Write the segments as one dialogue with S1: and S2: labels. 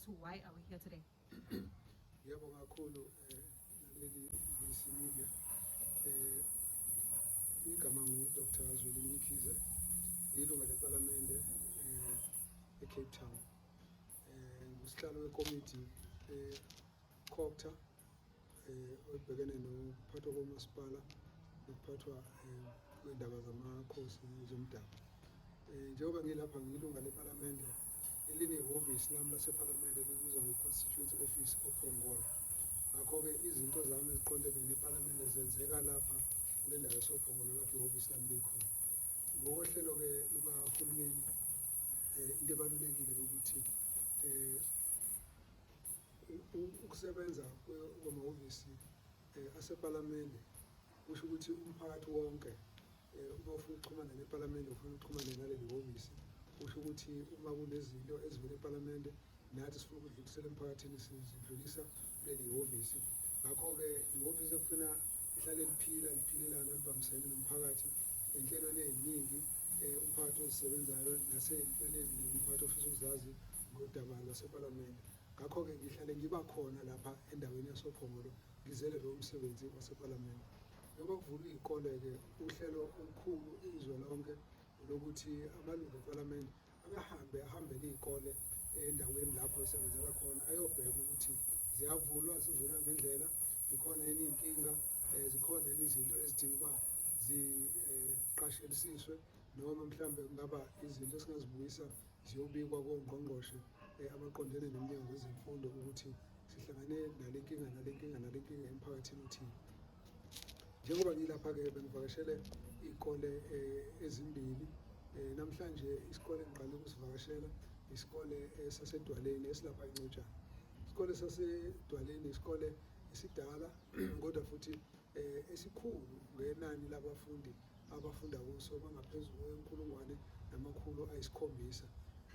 S1: So why are we here today?
S2: Yebo kakhulu eh naleli BBC Media eh igama ngu Dr. Zweli Mkhize ilunga leParliamente eh eCape Town eh ngusihlalo wekomiti eh Copter eh, ebhekene nokuphathwa komasipala nokuphathwa eh, kwendaba zamakhosi zomdabu eh, njengoba ngilapha ngilunga lepalamende elinehhovisi lami lasepalamende libizwa nge-constituency office ophongolo ngakho-ke izinto zami eziqondene nepalamende zenzeka lapha kule ndawo esophongolo lapho ihhovisi lami likhona ngokohlelo-ke lukahulumeni um into ebalulekile ukuthi um ukusebenza kwamahhovisi eh, asepalamende kusho ukuthi umphakathi wonke eh, uma ufuna ukuxhumana nepalamende ufuna ukuxhumana naleli hhovisi kusho ukuthi uma kunezinto ezivela epalamende nathi sifuna ukudlulisela emphakathini sizidlulisa kuleli hhovisi ngakho-ke ihhovisi ekufuna lihlale liphila liphilelana libambisene nomphakathi enhlelweni eziningi eh, umphakathi ozisebenzayo nasey'ntweni eziningi umphakathi ofisa ukuzazi ngodaba lwasepalamende ngakho-ke ngihlale ngiba khona lapha endaweni yasophongolo ngizele lo msebenzi wasepalamende njengoba kuvulwa iy'kole-ke uhlelo olukhulu izwe lonke lokuthi amalungu epalamende akahambe ahambele iy'kole endaweni lapho esebenzela khona ayobheka ukuthi ziyavulwa zivulwa ngendlela zikhona yini iy'nkinga um zikhona yini izinto ezidinga uba ziqashelisiswe eh, noma mhlawumbe kungaba izinto esingazibuyisa ziyobikwa kongqongqoshe eh, abaqondene nomnyango wezemfundo ukuthi sihlangane nale nkinga nale nkinga nale nkinga emphakathini othile njengoba ngilapha-ke bengivakashele iy'kole eh, ezimbili eh, namhlanje isikole engiqale ukusivakashela isikole eh, sasedwaleni esilapha incotshana isikole sasedwaleni isikole esidala kodwa futhi esikhulu ngenani labafundi abafunda kuso bangaphezulu kwenkulungwane namakhulu ayisikhombisa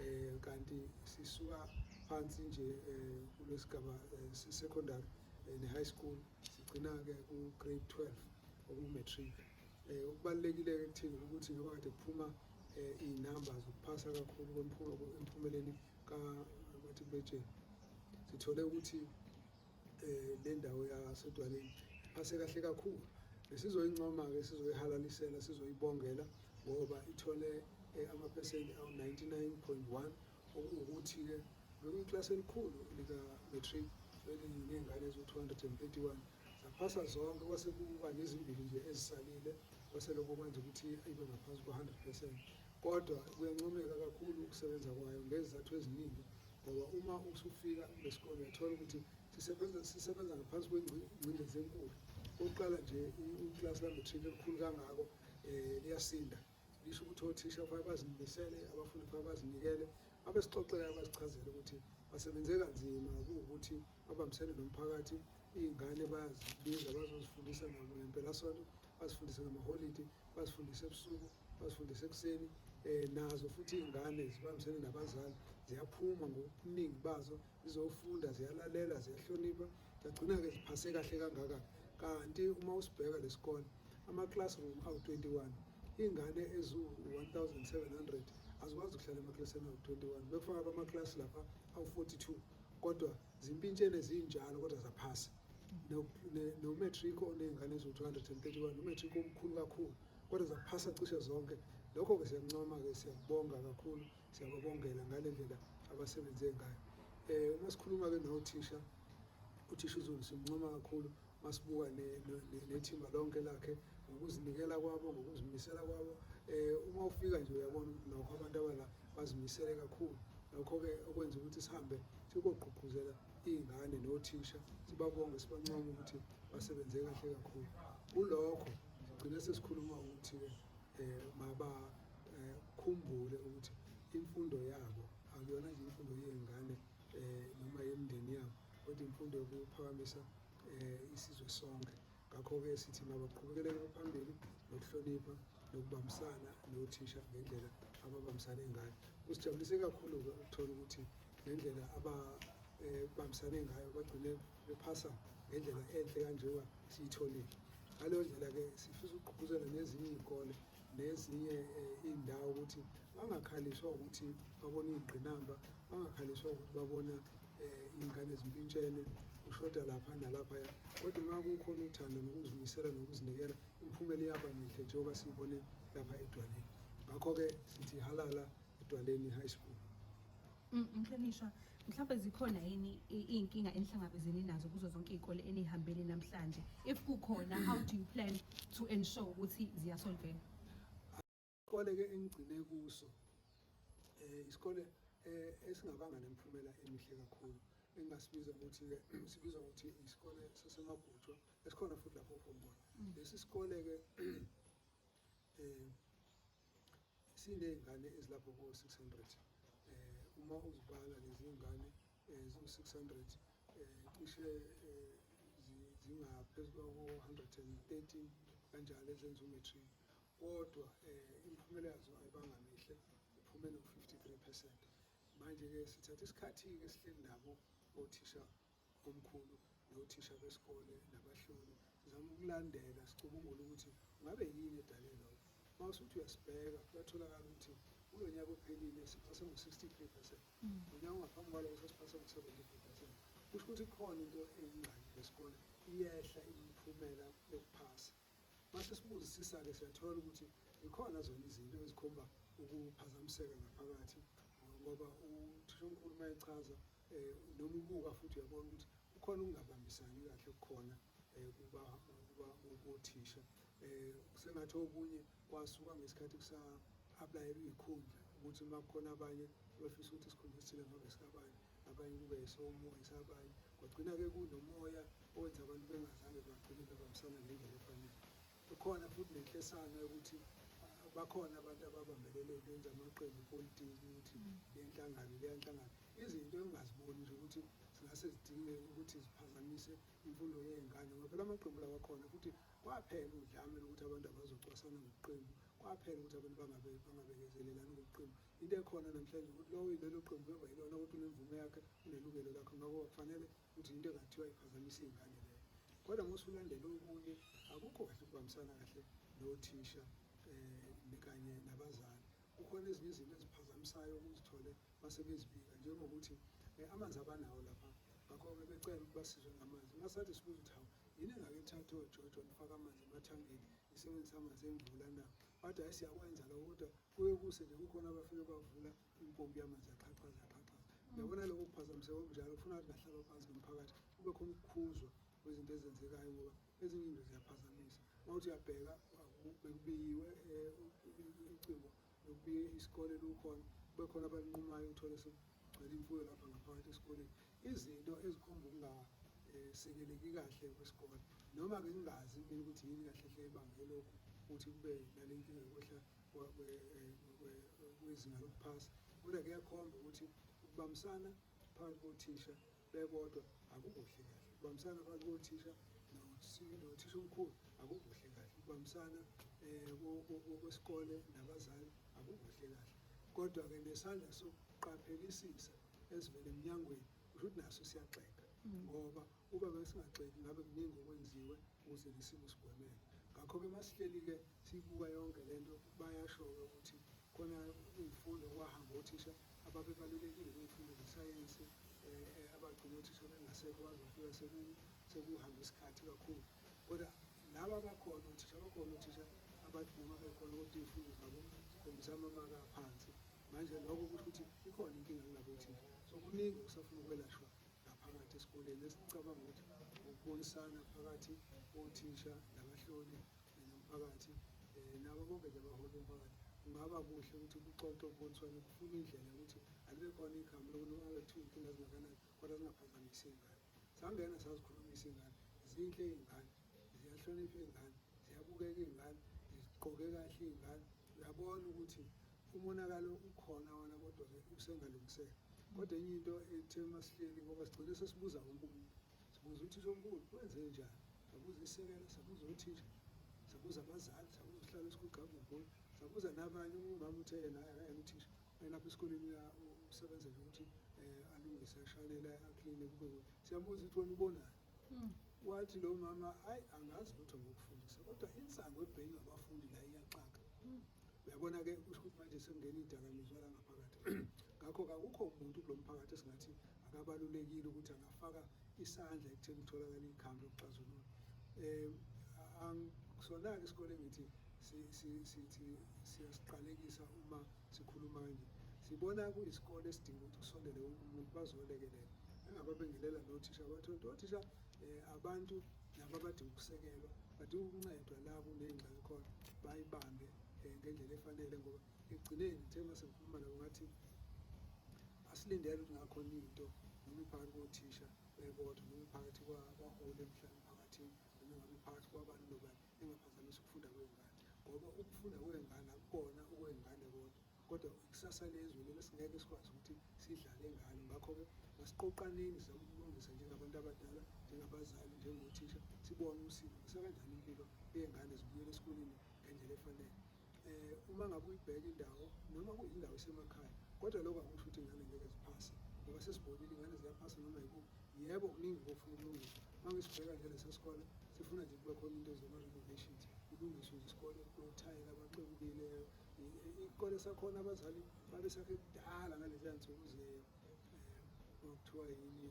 S2: eh kanti sisuka phansi nje eh, kulesigaba eh, secondary eh, ne high school sigcina-ke u-grade 12 okumatric um okubalulekile-ke kuthina ukuthi ngoba kade kuphuma um iy'namba zokuphasa kakhulu emphumeleni kamatrikulesheni sithole ukuthi um le ndawo yasedwaleni phase kahle kakhulu besizoyincoma-ke sizoyihalalisela sizoyibongela ngoba ithole eh, amaphesenti awu-99.1 Okungukuthi-ke bekuyikilasi elikhulu lika-matric elinezingane eziwu-231 zaphasa zonke kwase kuba nezimbili nje ezisalile kwase lokho kwenza ukuthi ibe ngaphansi kwa-100 percent kodwa kuyancomeka kakhulu ukusebenza kwayo ngezizathu eziningi ngoba uma usufika kulesisikole uyathola ukuthi sisebenza sisebenza ngaphansi kwengcindezi enkulu oqala nje uklasi la-matric elikhulu kangako um liyasinda Ngisho ukuthi othisha kufanele bazimisele, abafundi kufanele bazinikele, abesixoxela basichazele ukuthi basebenze kanzima kuwukuthi babambisene nomphakathi iy'ngane bayazibiza bazozifundisa nabo ngempelasonto bazifundise ngamaholidi bazifundise ebusuku bazifundise ekuseni um nazo futhi iy'ngane zibambisene nabazali ziyaphuma ngobuningi bazo zizofunda ziyalalela ziyahlonipha Sagcina-ke siphase kahle kangaka kanti uma usibheka lesikole ama-classroom awu-21 iy'ngane eziwu-1700 azikwazi ukuhlala emaklasini awu-21 bekufaka kwamaklasi lapha awu-42 kodwa zimpintshene zinjalo kodwa zaphasa nomatric oney'ngane eziwu-231 umatric omkhulu kakhulu kodwa zaphasa cishe zonke lokho-ke siyakuncoma-ke siyakubonga kakhulu Siyababongela ngale ndlela abasebenze ngayo. Eh uma sikhuluma ke nothisha uthisha uZulu simncoma kakhulu masibuka nethimba lonke lakhe ngokuzinikela kwabo ngokuzimisela kwabo eh uma ufika nje uyabona ukuthi nokho abantu abala bazimisele kakhulu nokho-ke okwenza ukuthi sihambe sikogqugquzela iy'ngane nothisha sibabonge sibancoma ukuthi basebenze kahle kakhulu kulokho sigcine sesikhuluma ukuthi-ke eh maba eh, khumbule ukuthi imfundo yabo akuyona nje imfundo yezingane eh noma yemndeni yabo kodwa imfundo yokuphakamisa eh isizwe sonke ngakho-ke sithi mabaqhubekeleke phambili nokuhlonipha nokubambisana nothisha ngendlela ababambisane ngayo kusijabulise kakhulu-ke ukuthola ukuthi ngendlela ababambisane eh, ngayo bagcine bephasa ngendlela enhle kanjengoba siyitholile ngaleyo ndlela-ke sifisa ukugqugquzela nezinye iy'kole nezinye eh, iy'ndawo ukuthi bangakhaliswa ukuthi babona iy'ngqinamba bangakhaliswa ukuthi babona eh, iy'ngane ezimpintshene ushoda lapha nalaphaya kodwa uma kukhona uthando nokuzimisela nokuzinikela imiphumela iyaba mihle njengoba siyibone lapha edwaleni ngakho-ke sithi halala edwaleni high school
S1: Mhlonishwa, mhlawumbe zikhona yini iy'nkinga enihlangabezene nazo kuzo zonke iy'kole enihambele namhlanje? If kukhona, how do you plan to ensure ukuthi ziyasolveka?
S2: Isikole-ke engigcine kuso um isikole um esingabanga nemiphumela emihle kakhulu engingasibiza ukuthi-ke sibiza ukuthi isikole sasemagutshwa esikhona futhi lapho uphuma khona mm. lesi sikole-ke um siney'ngane ezilapho ko-six hundred um uma uzibala lezi y'ngane um ziwu-six hundred um cishe um zingaphezu kwako-hundred and thirteen kanjalo ezenza umatric kodwa um imiphumela yazo ayibanga mihle iphume no-fifty three percent manje-ke sithatha isikhathi-ke sihleli nabo othisha Omkhulu nothisha besikole nabahloli sizama ukulandela sicubungula ukuthi ngabe yini edale lokho. Uma usuthi uyasibheka kuyatholakala ukuthi kulo nyaka ophelile siphase ngo-63 percent, mm. ngonyaka ongaphambi kwaloko sesiphase ngo-73 percent. Kusho ukuthi khona into eyingxaki lesikole iyehla imiphumela yokuphasa. Mase sibuzisisa-ke siyathola ukuthi zikhona zona izinto ezikhomba ukuphazamiseka ngaphakathi ngoba uthishomkhulu uma echaza um noma ubuka futhi uyabona ukuthi kukhona ukungabambisani kahle kukhona um kothisha um sengathi okunye kwasuka ngesikhathi kusa-aplayela iy'khundla ukuthi uma kukhona abanye befisa ukuthi isikhundla esithile ngabe sikabanye abanye ukuba yisomo esabanye kwagcina-ke kunomoya owenza abantu bengazange bagcine bebambisana ngendlela efanele ikhona futhi nenhlesana yokuthi bakhona abantu ababambelele benza amaqembu politiki ukuthi mm. lenhlangano leyanhlangano izinto engingaziboni nje ukuthi zingase zidinge ukuthi ziphazamise imfundo yey'ngane ngoba phela amaqembu lawa khona futhi kwaphela udlame lokuthi abantu abazocwasana ngokuqembu kwaphela ukuthi abantu bangabekezelelani ngokuqembu Into ekhona namhlanje ukuthi lowo ilelo qembu beba yilona ukuthi unemvume yakhe unelungelo lakhe ngakho kufanele ukuthi into engathiwa iphazamisa iy'ngane leyo kodwa uma usulandela okunye akukho kahle ukubambisana kahle nothisha um kanye nabazali kukhona ezinye izinto eziphazamisayo ukuzithole basebezibika njengokuthi um amanzi abanawo lapha ngakho-ke becela ukuthi basizwe ngamanzi masathi sibuza ukuthi hawu yini engake ithathe ojojo nifaka amanzi emathangeni isebenzisa amanzi engcula na bathi hayi siyakwenza lokho kodwa kuye kuse nje kukhona abafike bavula impompi yamanzi yaqhaqhaza yaqhaqhaza yabona lokho kuphazamiseka okunjalo kufuna ukuthi ngahlaba phansi nomphakathi kube khona ukukhuzwa kwezinto ezenzekayo ngoba ezinye into ziyaphazamisa uma uthi uyabheka bekubiyiwe um icingo bekubiye isikole lukhona kube khona abalinqumayo uthole sekugcwele imfuyo lapha ngaphakathi esikoleni izinto ezikhomba ukunga sekeleki kahle kwesikole noma-ke ngingazi mina ukuthi yini kahle hle ibangele lokhu ukuthi kube nale nkinga yokwehla kwezinga lokuphasa kodwa kuyakhomba ukuthi ukubambisana phakathi kothisha bebodwa akukuhle kahle ukubambisana phakathi kothisha nothisha omkhulu akukuhle kahle ukubambisana um kwesikole nabazali akukuhle kahle kodwa-ke nesandla sokuqaphelisisa ezivele emnyangweni kusho ukuthi naso siyaxeka ngoba Uba besingagxeki ngabe kuningi okwenziwe ukuze lesimo sigwemeke. Ngakho-ke masihleli-ke siyibuka yonke le nto bayasho-ke ukuthi khona iy'fundo kwahamba othisha ababebalulekile kwiy'fundo zesayensi um eh, eh, abagcina othisha bengasekho bazofika sekuhambe isikhathi kakhulu kodwa laba abakhona othisha abakhona othisha abathi noma bekhona kodwa iy'fundo zabo zikhombisa amamaka aphansi manje lokho kusho ukuthi ikhona inkinga kulabo othisha so kuningi okusafuna ukwelashwa ngaphakathi esikoleni esicabanga ukuthi ukubuyisana phakathi kothisha nabahloli nomphakathi um nabo bonke nje abaholi bomphakathi kungaba kuhle ukuthi kuxoxwe kuboniswane kufuna indlela yokuthi alibe khona igama lokuthi alethu iy'nkinga zingakanani kodwa zingaphazamisi iy'ngane sangena sazikhulumisa iy'ngane zinhle iy'ngane ziyahlonipha iy'ngane ziyabukeka iy'ngane zigqoke kahle iy'ngane uyabona ukuthi umonakalo ukhona wona kodwa-ke usengalungiseka kodwa enye into ethe masihleli ngoba sigcine sesibuza wonke umuntu sibuza uthisha omkhulu kwenze njani sabuza isekela sabuza othisha sabuza abazali sabuza uhlala esikhulu gqabugoli sabuza nabanye umama uthe yena akayena uthisha elapha esikoleni usebenza nje ukuthi um alungise ashanele akline kube siyabuza ukuthi wena ubonani Hmm. Wathi lo mama ayi angazi lutho ngokufundisa kodwa insango ebhekile abafundi la iyaxaka. Hmm. Uyabona ke kusho ukuthi manje sekungena idakamizwa la ngaphakathi. Ngakho kakukho umuntu kulo mphakathi esingathi akabalulekile ukuthi angafaka isandla ekutheni kutholakale ikhambi lokuxazulula. Eh angisona-ke isikole ngithi siyasiqalekisa uma Sikhuluma nje sibona kuyisikole esidinga ukuthi kusondele wonke umuntu bazolekelela engababingelela nothisha bathonto othisha um eh, abantu nabo abadinga ukusekelwa badinga ukuncedwa la kuneyingxaki khona bayibambe um ngendlela efanele ngoba ekugcineni ngithe uma sengikhuluma nabo ngathi asilindele ukuthi ngakhona into noma iphakathi kothisha um eh, kodwa noma iphakathi kwahole mhlawumbe emphakathini noma ngabe iphakathi kwabani nobani engaphazamisa ukufunda kwey'ngane ngoba ukufunda kwey'ngane akukona okwey'ngane kodwa kodwa ikusasa lezwe lelo singeke sikwazi ukuthi sidlale ngalo ngakho-ke masiqoqaneni sizama ukulungisa njengabantu abadala njengabazali njengothisha sibone ukuthi sisekanjani impilo yey'ngane zibuyele esikoleni ngendlela efanele eh uma ngabe uyibheka indawo noma kuyindawo esemakhaya kodwa lokho akusho ukuthi ingane ngeke ziphase ngoba sesibonile ingane ziyaphasa noma yikuphi yebo kuningi kofuna ukulungiswa uma ngisibheka nje lesa sikole sifuna nje kube khona into zoma-renovations kulungiswe nje isikole kulothayela abaxebukileyo isikole sakhona abazali babesakhe kudala ngaleziya nsuku ze um eh, kuthiwa yini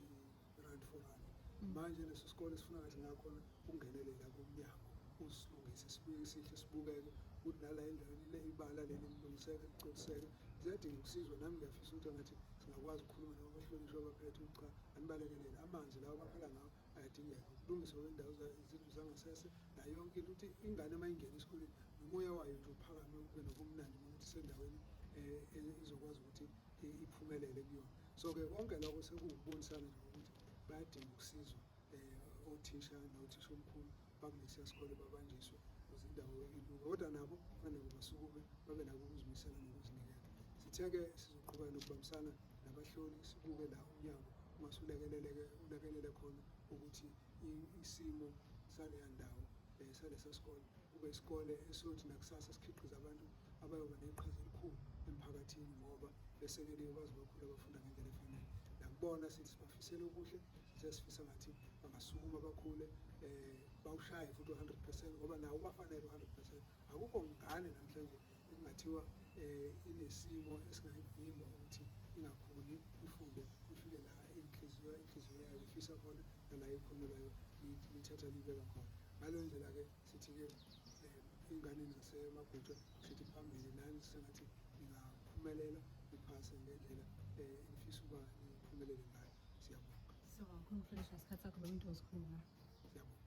S2: rand for rand mm. manje leso sikole sifuna ngathi ngakhona ukungenelela kumnyango usilungise sibuye sihle sibukeke ukuthi nala endaweni le ibala leli lilungiseke ligcoliseke ziyadinga ukusizwa nami ngiyafisa ukuthi ngathi singakwazi ukukhuluma nabo bahlonishwa baphethe ukuthi cha anibalekelele amanzi lawo baphela ngawo ayadingeka ukulungiswa kwendawo izindlu zangasese nayo yonke into ukuthi ingane uma ingena esikoleni nomoya wayo nje uphakame ube nobumnandi ukuthi sendaweni um izokwazi ukuthi iphumelele kuyona so ke konke lokho sekuwukubonisana nje ukuthi bayadinga ukusizwa um othisha nothisha omkhulu bakulesiya sikole babanjiswe ukuze indawo ilunga kodwa nabo kufanele basukume babe nako ukuzimisela nokuzinikela sithe-ke sizoqhubeka nokubambisana nabahloli sibuke la umnyango ungasulekeleleke ulekelele khona ukuthi isimo saleya ndawo um salesa sikole kube isikole esothi nakusasa sikhiqiza abantu abayoba neqhaza elikhulu emphakathini ngoba besekeliwe baze bakhule bafunda ngendlela efanele nakubona sithi sibafisele okuhle sesifisa ngathi bangasukuma bakhule um bawushaye futhi u-hundred percent ngoba nawo ubafanele u-hundred percent akukho ngane namhlanje ekungathiwa um inesimo esingayivimba ukuthi ingakhuli ifunde ifike la inhliziyo inhliziyo yayo ifisa khona nala ikhonelayo lithatha libeka khona ngaleyo ndlela-ke sithi-ke um enganeni nasemabhutshwa sithi phambili nani sengathi ningaphumelela niphase ngendlela um engifisa
S1: uba niphumelele ngayo siyabonga
S2: siyabonga
S1: khona mfundisi ngesikhathi sakho lo muntu
S2: osikhuluma
S1: siyabonga